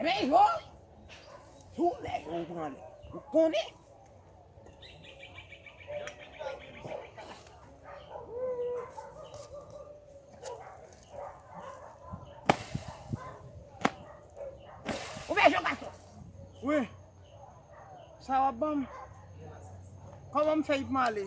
Ebyen yo, tou lè yo ou pran lè, ou konnen. Ou vè jò gason? Wi, sa wap banm? Koman m fè yi pman ale?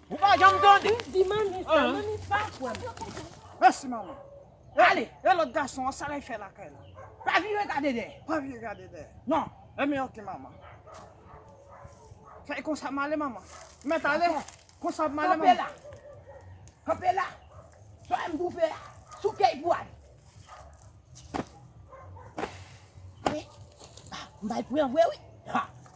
Ou pa janm tande. Ou di manmi sa, manmi pa kwè m. Mèsi manman. Ale, e lòt gason an, sa lèy fè lakay la? Pa vire gade dèyè. Pa vire gade dèyè. Non. Enben oke manman. Fè konsa m ale manman. Mèt ale. Konsa m ale manman. Kanpe la. Kanpe la. Sa m pou fè a. Sou key pou ale. Mwen, m bay pran vre wi. Ha!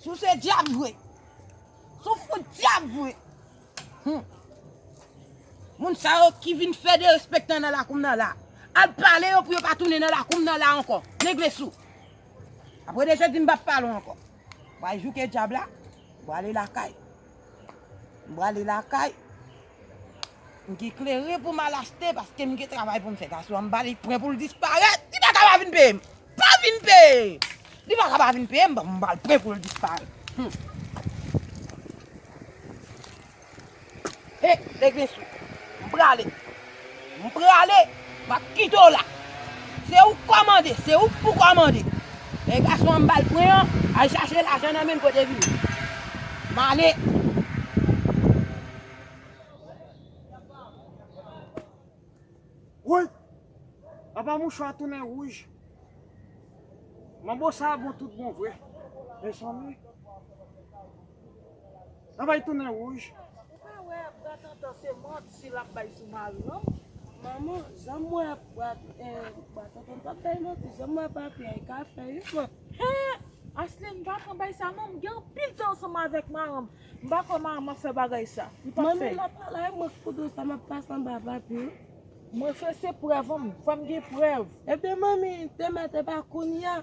Si w se dyab vre. Si w fout dyab vre. Hum. Moun sa yo ki vin fè derespektan nan lakou m nan la. Al pale yo pou yo pa tounen nan lakou m nan la ankò. Nèg lesou. Apre de jodi m pa p pale w ankò. Wa jouke dyab la. Wa ale lakay. Wa ale lakay. M gen kleren pou m al achte paske m gen travay pou m fè. Gason an m ba li pwen pou l disparèt. Li pa ka pa vin peye m. Pa vin peye! Li pa ka pa vin peye m donk m ba l pwen pou l disparèt. Hum! He! Lèk vin sou! M prale! M prale, m ap kite w la. Se ou k kòmande, se ou k pou kòmande. Lè gason an m ba l pwen an, al chache lajan nan men l kote vil. M ale. Woy! Apa mouchwa a tounen wouj. Manbo sa a bon tout bon vre. Mezanmi! Travay tounen rouj. Ou pa wè bra tantan se manti lap bay sou mari non. Manman janm wè bra tantan pap bay manti janm wè papi a e ka fè wi man. Hee Asline pa pran bay sa non m gen anpil tan ansanm avèk maranm m pa kwè maranm ap fè bagay sa li pap fè. Manmi lap pale ak mwen pou do sa map pase anba papi wi. Mwen fè se prèv humm fòm gen prèv. Ebyen manmi demen te pa kounya.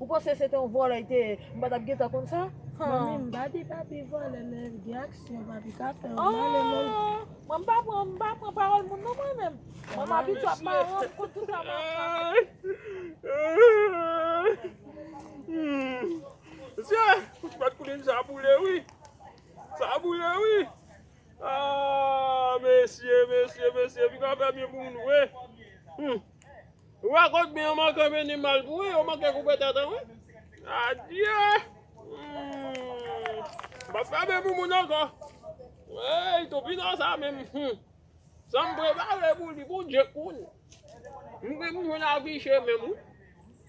Ou panse se te yon vòlè li te ye, m pa t ap gentan konn sa? Manmi m pa di papi vòlè men gen aksyon papi ka fè yo male menm. Mwen m pa pran m pa pran pawòl moun non mwen menm. Mwen m abitye ap maran m konn tout sa m ap fè. Rakòt byen yo manke vini mal pou wi, yo manke koupe tèt an wi. Adye! M pap ka byen pou moun ankò. Eyy topinò sa menm humm. Sam prepare pou li pou Dye konnen. M gen m jwenn afiche menm wi.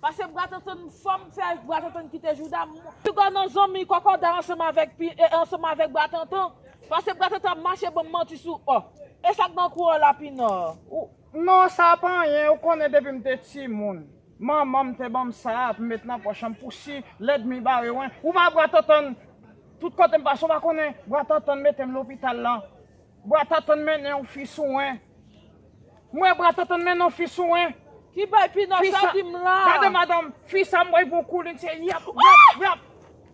Pase bra tantann fom fe avk bra tantann kite jouda m. Piga nan zanmi kòkòday ansanm avèk pi e ansanm avèk bra tantan pase bra tantan ap mache banm manti sou ò esak nan kou ò la pina ou. Non sa pa anyen ou konnen depim te timoun manmanm te banm sa pou m met nan pòch m pou si lèdmi bare wen ou pa bra tantann tout kotem pase ou pa konnen bra tantann metem lopital lan bra tantann mennenw fi sou wen. Mwen bra tontonn men non fi sou en. Ki bay pinò sa ki m la. Gade madanm fi sa m wè gon kou li n se yap yap yap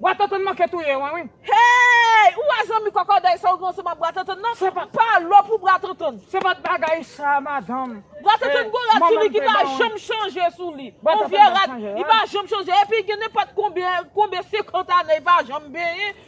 bwa tontonn manke touye mwen wi. Heyy ou wè zanmi kòkòday sa ou gen ansanm ak bra tontonn nan pa lò pou bra tontonn. Se pat bagay sa madanm. Bra tontonn gon rad sou li ki pa janm chanje sou li on vye rad li pa janm chanje epi gen nenpòt konbyen 50 ane li pa janm benyen.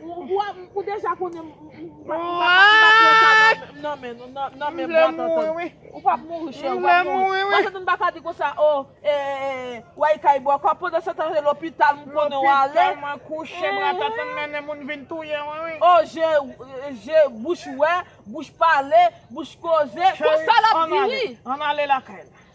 Ou deja konnen m pa pran sa nan men nou nan men bwa tantan. Ou pap mouri chè, ou pap mouri. Mwen se te m pa ka di kon sa o, ou ay kay bwa kwa. Pandan se tan se lopital m konnen w ale. Lopital mwen kouche bwa tantan mennen moun vin touye mwen wi. O je, je, bouch wè, bouch pale, bouch koze. Kon sa l ap di wi. An ale lakay la.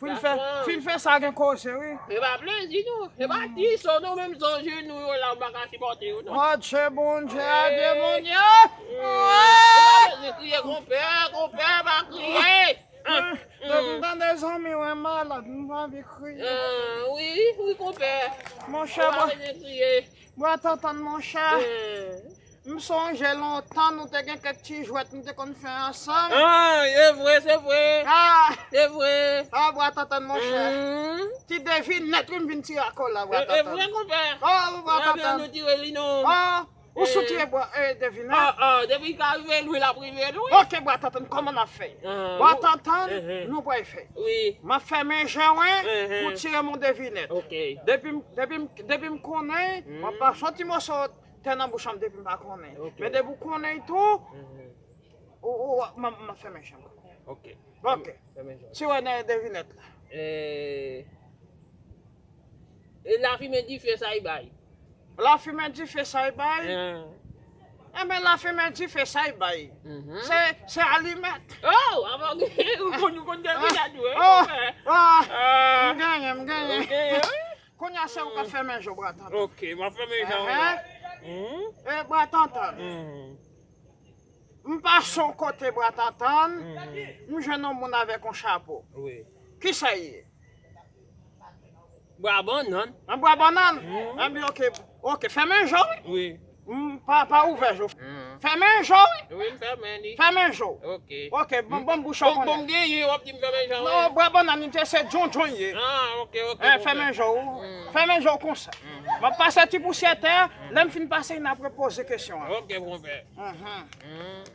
Fin fè fin fè sa gen koze wi. Yo pa plezi nou. Yo pa di so nou menm son je nou yo la m paka sipòte yo non. Matche Bondye a de moun yo. Yo pa plezi kriye konpè konpè pa kriye. Depi m tande zanmi w malad m anvi kriye. Wi wi konpè. Monchè bwa tantan monchè. M sonje lontan nou te gen kèk ti jwèt nou te konn fè ansanm. Ahh e vre se vre. Ahh e vre. Ahh bwa tantann monchè. Ti devinèt wi m vin tire ak ou la bwa tantann. E vre konpè. Ohh bwa tantann. Mwen vin tire li non. Ohh ou sou tire bwa devinèt. Ahh ahh depi l ka rive lwen l ap rive l wi. Ok bwa tantann kòman n ap fè. Bwa tantann nou pral fè. Wi. M ap fèmen je wen pou w tire m yon devinèt. Ok. Depi m konnen w ap pran s on ti moso Tè nan bouch an depi m pa konnen. Men depi ou konnen y tou, m ap fèmen je m. Ok. Ok. Ti wè nan devinèt la. E lafimen dife sa y bay? Lafimen dife sa y bay? Enben lafimen dife sa y bay? Se alimèt. Oh! Avan ou gen, ou konn devinèt ou. Ou fè. M genyen, m genyen. Kounya se ou kap femen je w bra tantan. Ok map femen je w la. E bra tantan. M pase yon kote bra tantan, m jwenn yon moun avek yon chapo. Kisa li ye? Bra banann. Bra banann? Enben ok, ok femen je w. M pa pa ouvè je w. Fèmen je w wi. Wi m fèmen li. Fèmen je w. Ok. Ok bon bon bouch an konnen. Bon bon m genyen wap di m fèmen je w. Non bwè bannann li te se djondjon l ye. Ah ok ok. Hein fèmen je w. Fèmen je w konsa. Map pase ti pousyè tè a, lè m fin pase n ap repoze kesyon an. Ok konpè. Uhmm.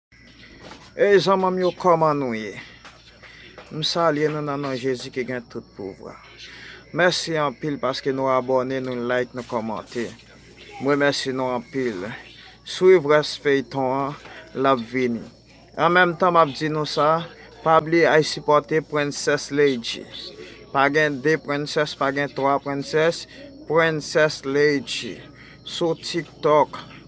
Ey zanmanm yo koman nou ye m salye nou nan non jezi ki gen tout pouvwa mèsi anpil paske nou abòne nou like nou kòmante m remèsi nou anpil swiv rès feyton an lap vini an menm tan map di nou sa pa bliye ay sipòte princess leydji pa gen 2 princess pa gen 3 princess princess leydji sou tiktok